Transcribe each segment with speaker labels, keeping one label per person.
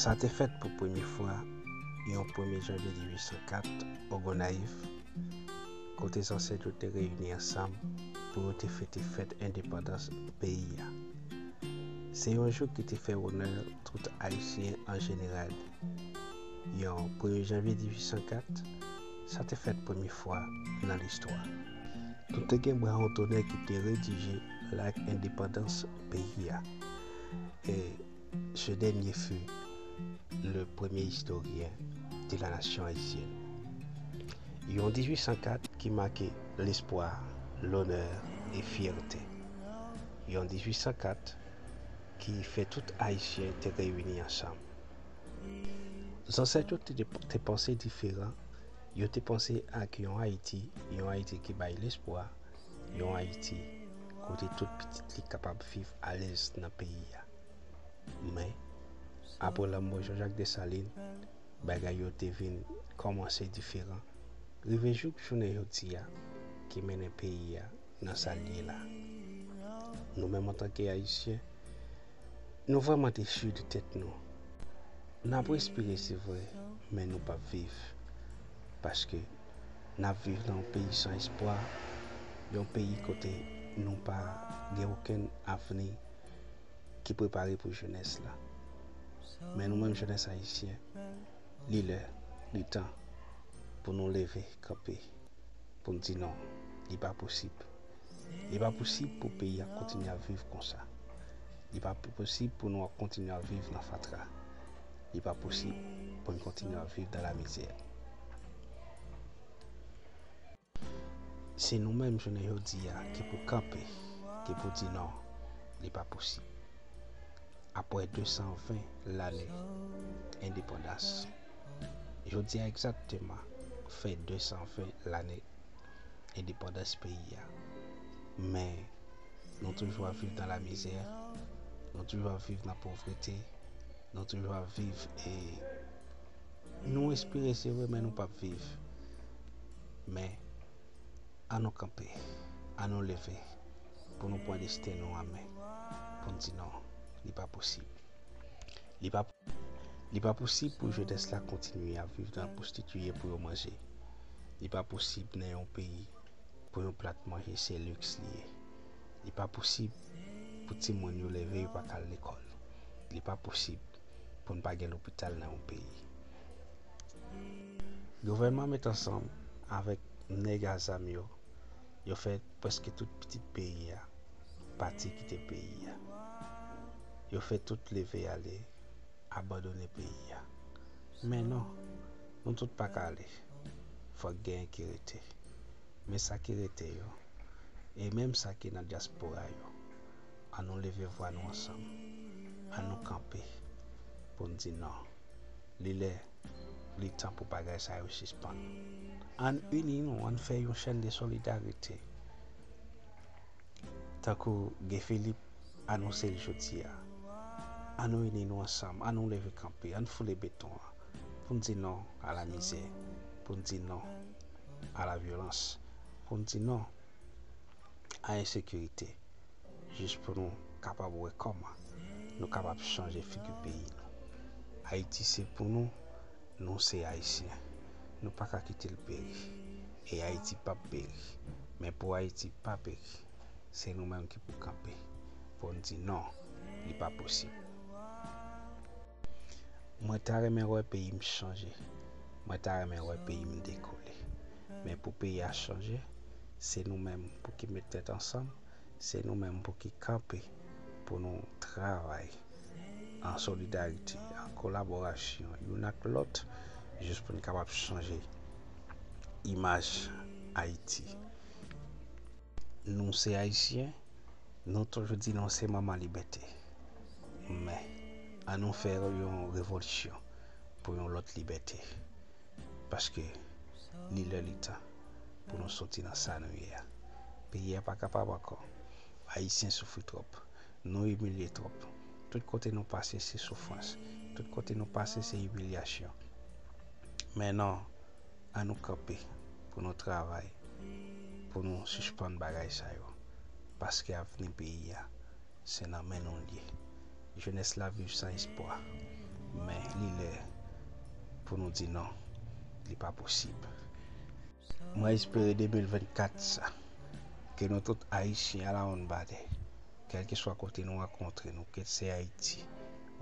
Speaker 1: Sa te fèt pou premye fwa yon premye janvye 1804 o Gonayiv, kote zansèt yo te reyini ansanm pou yo te fete fèt endepandans peyi a. Se yon jou ki te fè onè tout Ayisyen an jeneral. Yon premye janvye 1804, Sa te fèt premye fwa nan listwa. Nou te gen bra ontonè ki te redije Lak Endepandans peyi a. E ce dernier fut le premier historien de la nation haïtienne. Yon 1804 ki make lespwa, lonè e fyète. Yon 1804 ki fè tout Ayisyen te reyini ansanm. Zansèt yo te panse diferan, yo te panse ak yon Ayiti, yon Ayiti ki bay lespwa, yon Ayiti kote tout pitit li kapab viv alèz nan peyi a. Men, apre lanmò Jean-Jacques Dessalines, bagay yo te vin kòmanse diferan, rive jouk jounen jodi a, ki mennen peyi a nan sa l ye la. Nou menm antanke Ayisyen, Nou vreman dechu de tèt nou. Nap respire se vre men nou pap viv paske nap viv nan yon peyi san espwa, yon peyi kote nou pa gen okenn avni ki prepare pou jenès la. Men nou menm jenès ayisyen li lè, li tan pou nou leve kanpe poun di non li pa posib. Li pa posib pou peyi a kontinye ap viv konsa. Li pa posib pou nou ap kontinye ap viv nan fatra. Li pa posib pou n kontinye ap viv nan lamizè. Se nou menm jounen jodi a ki pou kanpe, ki pou di non, li pa posib. Apre 220 lane endepandans, jodi a egzakteman fè 220 lane. endepandans peyi a men nou toujou ap viv nan lamizè nou toujou ap viv nan povrete nou toujou ap viv e nou respire se vre men nou pap viv men an nou kanpe an nou leve pou nou pran desten nou an men pou n di non li pa posib li pa posib pou jenès la kontinye ap viv nan pwostitiye pou yo manje Li pa posib nan yon peyi pou yon plat manje se liks li ye. Li pa posib pou timoun yo leve yo pa ka al lekòl. Li pa posib pou n pa gen lopital nan yon peyi. Gouvènman met ansanm avèk nèg a zam yo, yo fè prèske tout pitit peyi a pati kite peyi a. Yo fè tout leve ale, abandone peyi a. Men non! Nou tout pa ka ale. Fòk genyen ki rete. Men sa ki rete yo, e menm sa ki nan dyaspora yo, an nou leve vwa nou ansanm, an nou kanpe pou n di non. Li lè, li tan pou bagay sa yo sispann. Ann ini nou, ann fè yon chenn de solidarite. Tankou Guy Philippe anonse l jodi a, an nou ini nou ansanm, an nou leve kanpe, ann foule beton an. pou n di non a la mizè, pou n di non a la vyolans, pou n di non a ensekirite, jis pou nou kapab wè kòman nou kapab chanje figi peyi nou. Ayiti se pou nou, nou se Ayisyen, nou pa ka kite l peri. E Ayiti p ap peri. Men pou Ayiti pa peri, se nou menm ki pou kanpe, pou n di non, li pa posib. Mwen ta renmen wè peyim chanje, mwen ta renmen wè peyim dekole. Men pou peyi a chanje, se nou menm pou ki met tèt ansanm, se nou menm pou ki kanpe pou nou travay an solidarite, an kolaborasyon youn ak lòt jis pou n kapab chanje imaj Ayiti. Nou se Ayisyen, nou toujou di nou se manman libète. Men, an nou fè yon revolisyon pou yon lòt libète. Paske, li lè li tan pou nou soti nan sa nou ye a. Peyi a pa kapab ankò. Ayisyen soufri twòp. Nou imilye twòp. Tout kote nou pase se soufrans. Tout kote nou pase se imilyasyon. Men non, an nou kanpe pou nou travay pou nou sispann bagay sa yo. Paske avni peyi a. se nan men nou l ye. Jenès la viv san espwa, men li lè pou nou di non, li pa posib. Mwen espere 2024 sa, ke nou tout Ayisyen alawonnbadè, kèlkeswa kote nou rankontre nou, kit se Ayiti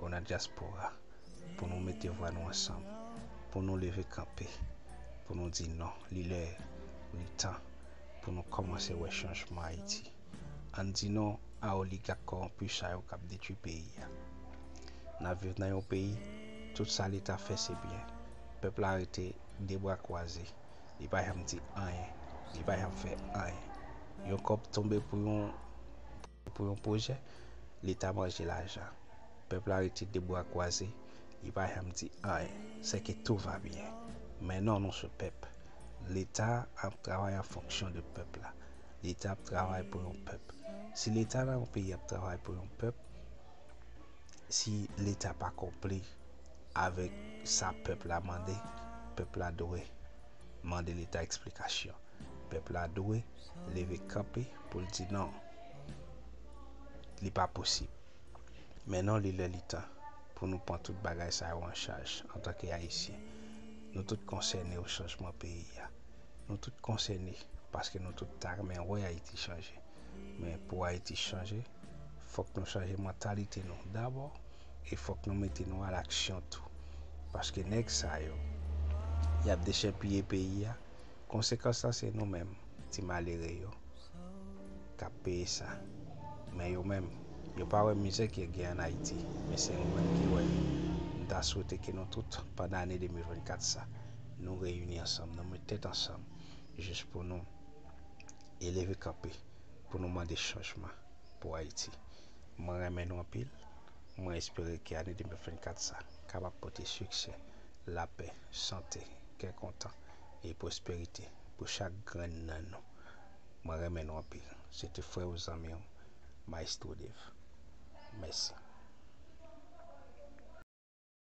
Speaker 1: ou nan dyaspora, pou nou mete vwa nou ansanm, pou nou leve kanpe, pou nou di non, li lè, li tan pou nou kòmanse wè chanjman Ayiti. Ann di non a oligak kowonpi sa yo kap detwi peyi a. Nap viv nan yon peyi tout sa leta fè se byen. Pèp la rete de bra kwaze, li pa janm di anyen, li pa janm fè anyen. Yon kòb tonbe pou yon pou yon pwojè, leta manje lajan. Pèp la rete de bra kwaze, li pa janm di anyen. Se ke tou va byen. Men non nou sou pèp. Leta ap travay an fonksyon de pèp la. Leta ap travay pou yon pèp. Si leta nan yon peyi ap travay pou yon pèp, si leta pa konpli avèk sa pèp la mande, pèp la dwe mande leta eksplikasyon. Pèp la dwe leve kanpe pou l di non, li pa posib. Men non li lè li tan pou nou pran tout bagay sa yo an chaj antanke Ayisyen. Nou tout konsène yo chanjman peyi a. Nou tout konsène paske nou tout ta renmen wè Ayiti chanje. Men pou Ayiti chanje, fòk nou chanje mantalite nou dabò e fòk nou mete nou alaksyon tou. Paske nèg sa yo, y ap dechèpiye peyi a, konsekans lan se nou menm ti malere yo k ap peye sa. Men yo menm, yo pa wè mizè ki gen ann Ayiti, men se nou menm ki wè. M ta swete ke nou tout pandan ane 2024 sa, nou reyini ansanm, nou met tèt ansanm jis pou nou e leve kanpe pou nou mande chanjman pou Ayiti. Mwen renmen nou anpil, mwen espere ke ane 2024 sa kapab pote siksè, lapè, sante, kè kontan e pwosperite pou chak grenn nan nou. Mwen renmen nou anpil. Se te frè ou zanmi ou, Maestro Dave. Mèsi.